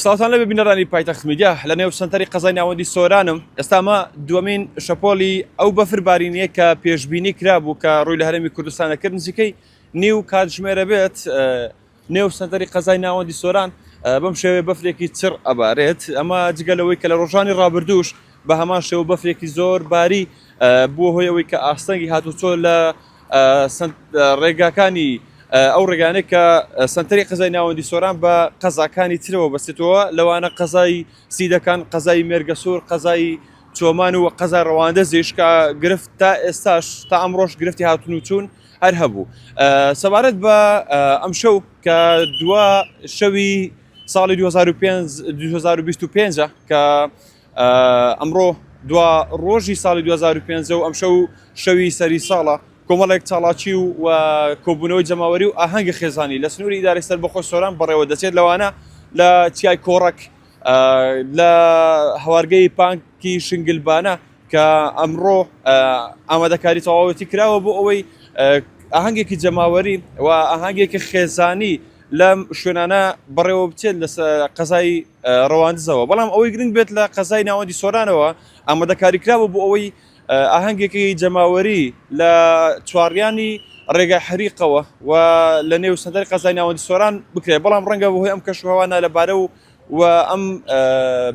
سڵاوتان لەبێ بینەرانی پایتەخت میدیا لە نێو سەنتەری قەزای ناوەندی سۆرانم ئێستا مە دووەمین شەپۆلی ئەو بەفر بارینەیە کە پێشببینی کرابوو کە ڕووی لە هەرمی کوردستانە کرد نزیکەی نیو کاتژمێرە بێت نێو سەنتەری قەزای ناوەندی سۆران بەم شێوێ بەفرێکی چڕ ئەبارێت ئەمە جگە لەوەی کە لە ڕۆژانی ڕابردووش بە هەمان شێوە بەفرێکی زۆر باری بووە هۆی ئەوەی کە ئاستەنگی هاتوچۆ لە ڕێگاکانی ئەو ڕێگانێک کە سنتەری قەزای ناوەندی سۆران بە قەزاکانی ترەوە بەستێتەوە لەوانە قەزای سیدەکان قەزای مێرگەسوور قەزای چۆمان و قەزا ڕەواندە زیشکە گرفت تا ئێستاش تا ئەمڕۆژ گرفتی هاتون و چوون هەر هەبوو سەبارەت بە ئەم شەو کە دوا شەوی ساڵی 2025 کە ئەمڕۆ دوا ڕۆژی ساڵی 2005 و ئەمشەو شەوی سەری ساڵە کۆمەڵێک چاڵاکی و و کۆبوونەوەی جەماوەری و ئاهەنگە خێزانی لە سنووری ئیدارەی سەربەخۆی سۆران بەڕێوە دەچێت لەوانە لە چیای کۆڕەک لە هەوارگەی پانکی شنگلبانە کە ئەمڕۆ ئامادەکاری تەواوەتی کراوە بۆ ئەوەی ئاهەنگێکی جەماوەری و ئاهەنگێکی خێزانی لەم شوێنانە بەڕێوە بچێت لە قەزای رەواندزەوە، بەڵام ئەوەی گرنگ بێت لە قەزای ناوەندی سۆرانەوە ئامادەکاریکرابوو بۆ ئەوەی ئاهەنگێکی جەماوەری لە چواڕیانی رێگای حەریقەوە و لە نێو سەنتەری قەزای ناوەندی سۆران بکرێت، بەڵام رەنگە بەهۆی ئەم کەشوهەوا نالەبارە و و ئەم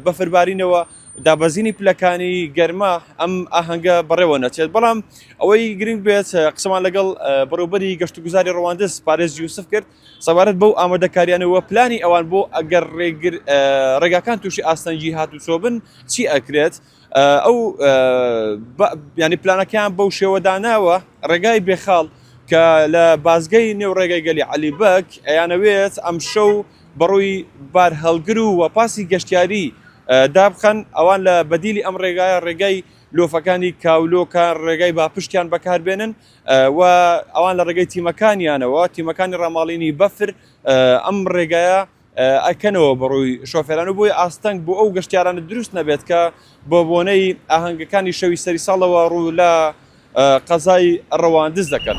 بەفربارینەوە دابەزینی پلەکانی گەرما ئەم ئاهەنگە بەڕێوە نەچێت، بەڵام ئەوەی گرنگ بێت قسەمان لەگەڵ بەڕێوبەری گەشتوگوزاری رەواندز پارێز یوسف کرد، سەبارەت بەو ئامادەکاریانە و پلانی ئەوان بۆ ئەگەر ڕێگاکان تووشی ئاستەنگی هاتوچۆ بن چی ئەکرێت ئەو ینی پلانەکەیان بەو شێوەداناوە ڕێگای بێخاڵ کە لە بازگەی نێو ڕێگەی گەلی علی بەک ئەیانەوێت ئەم شەو بەڕووی بار هەڵگر و وەپاسی گەشتیاری دابخەن ئەوان لە بەدیلی ئەم ڕێگایە ڕێگای لۆفەکانی کاولۆکە ڕێگای باپشتیان بەکاربێنن و ئەوان لە ڕێگەی تیمەکانیانەوە تیمەکانی ڕاماڵینی بەفر ئەم ڕێگایە ئەکەنەوە بەڕووی شۆفێران و بۆی ئاستەنگ بۆ ئەو گەشتیارانە دروست نەبێت کە بۆ بۆنەی ئاهەنگەکانی شەوی سەری ساڵەوە ڕوو لە قەزای ڕەواندز دەکەن.